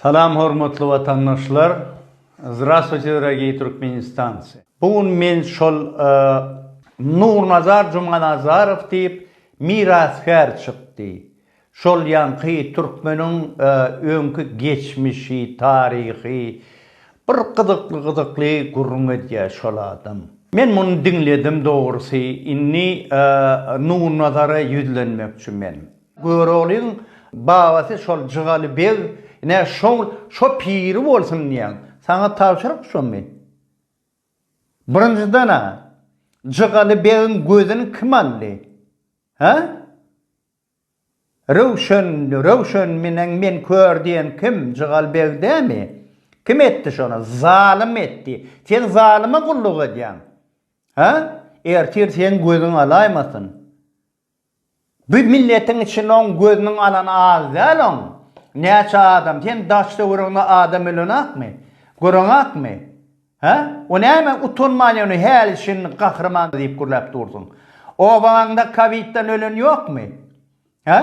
Salam hormatly watandaşlar! Zdrastwuyte drogiý Türkmenistancy! Bu gün men şol Nurnazar Jumanazarow diýip mirasgär çykdy. Şol ýaňky türkmeniň öňki geçmişi, taryhy bir gyzykly-gyzykly gürrüň edýär şol adam. Men muny diňledim dogrusy indi Nurnazara ýüzlenmekçi men. Göroglyň babasy şol Jygaly beg, ine, şoň şo piri bolsun diýýän. Saňa tabşyryk şo men. Birinjiden-ä, Jygaly begiň gözüni kim aldy? Hä? Röwşen, Röwşen menen men kör diýen kim? Jygaly beg dämi? Kim etdi şony? Zalym etdi. Sen zalyma gulluk edýäň. Hä? Ertir seň gözüň alaýmasyn. Bu milletiň içinde oň gözüniň alany az däl oň näçe adam sen daş töweregiňde adam ölenakmy göreňakmy hä o näme utanman ýöne häli şindi gahryman diýip gürläp dursuň obagaňda kowidden ölen ýokmy hä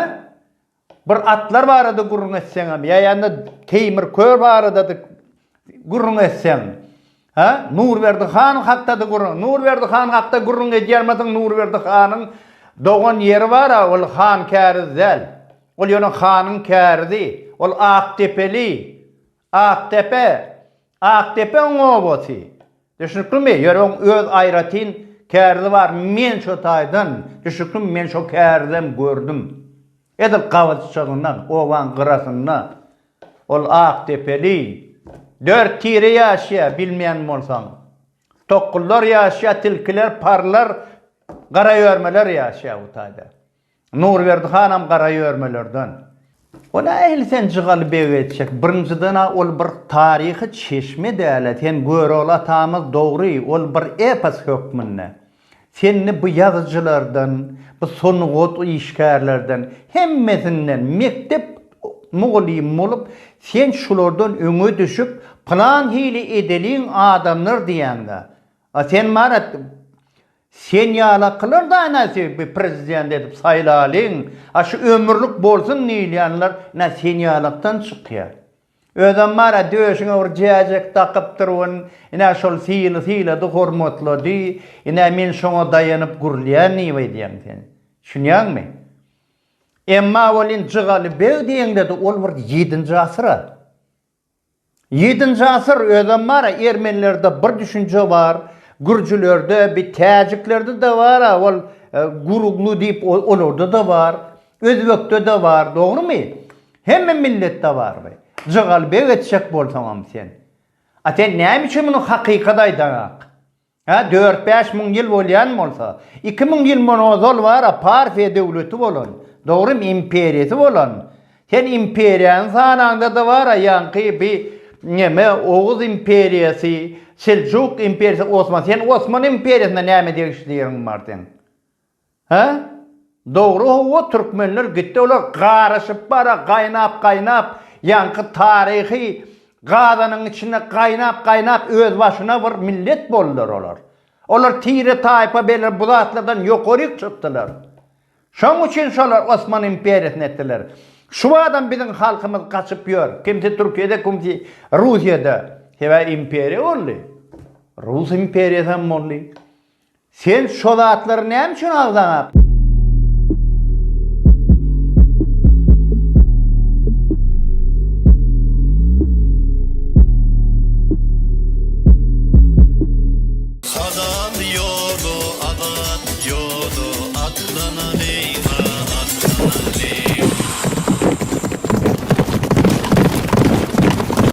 Bir atlar barada gürrüň etseňem, ýa-da Teýmir kör barada-da gürrüň etseň, hä? Nurberdi han hakda-da gürrüň. Nurberdi han hakda gürrüň edýärmidiň? Nurberdi hanyň dogan ýeri bar-a, ol Hankäriz däl. Ol ýöne hanyň kärizi. Ol Akdepeli. Akdepe, Akdepeň obasy. Düşnüklimi? Ýöne oň öz aýratyn kärzi bar. Men şo taýdan, düşnüklimi, men şo kärizem gördüm. Edil gabaçjygynda, obaň gyrasynda ol akdepeli dört tire ýaşaýar, bilmeýän bolsaň. Tokgullar ýaşaýar, tilkiler, parlar, garaýörmeler ýaşaýar bu taýda. Nurberdi hanam gara ýörmelerden. Ol ähli sen Jygaly beg etjek. Birinjiden-ä ol bir taryhy çeşme däl-ä, sen Görogly atamyz dogry, ol bir epos hökmünde. Sen indi bu ýazyjylardan, bu sungat işgärlerden, hemmesinden mekdep mugallymy bolup, sen şulardan öňe düşüp, pylan hili edeliň adamlar diýäň-dä. A sen marat, Sen ýalakylar da ene sebbi prezident edip saýlalyň a şu ömürlik bolsun diýilýänler ene sen ýalakdan çykýa. Özem bar a döşüňe bir jäjek dakypdyr wen ene şol syny sylady hormatlady ene men şoňa daýanyp gürlýän diýip aýdýaň sen. Düşünýäňmi? Emma welin Jygaly beg diýeňde de ol bir ýedinji asyr a. Ýedinji asyr özem bar a ermenilerde bir düşünje bar gürjülerde bi täjiklerdede bar a ol guruglu diýip olardada bar özbekdede bar dogrymy hemme milletde bar bi jygalbeg etjek bolsaňam sen a sen näme üçin muny hakykat aýdaňak Hä, dört-bäş müň ýyl bolýan bolsa, iki müň ýyl mundan ozal bar-a Parfiýa döwleti bolan, dogrymy, imperiýasy bolan, sen imperiýany sanaňda-da bar-a ýaňky bi neme Oguz imperiýasy, Seljuk imperiýasy, Osman, sen Osman imperiýasyna näme degişliligiň bar seň? Hä? Dogry howwa türkmenler gitdi olar garaşyp bara gaýnap gaýnap ýaňky taryhy gazanyň içinde gaýnap gaýnap öz başyna bir millet boldylar olar. Olar tire taýpa beler bu zatlardan ýokaryk çykdylar. Şoň üçin şolar Osman imperiýasyny etdiler. Şu badam biziň halkymyz gaçyp ýör kimsi türkiýede kimsi russiýada sebäbi imperiýa boldy. Rus imperiýasy hem boldy. Sen şo zatlary näme üçin agzaňak?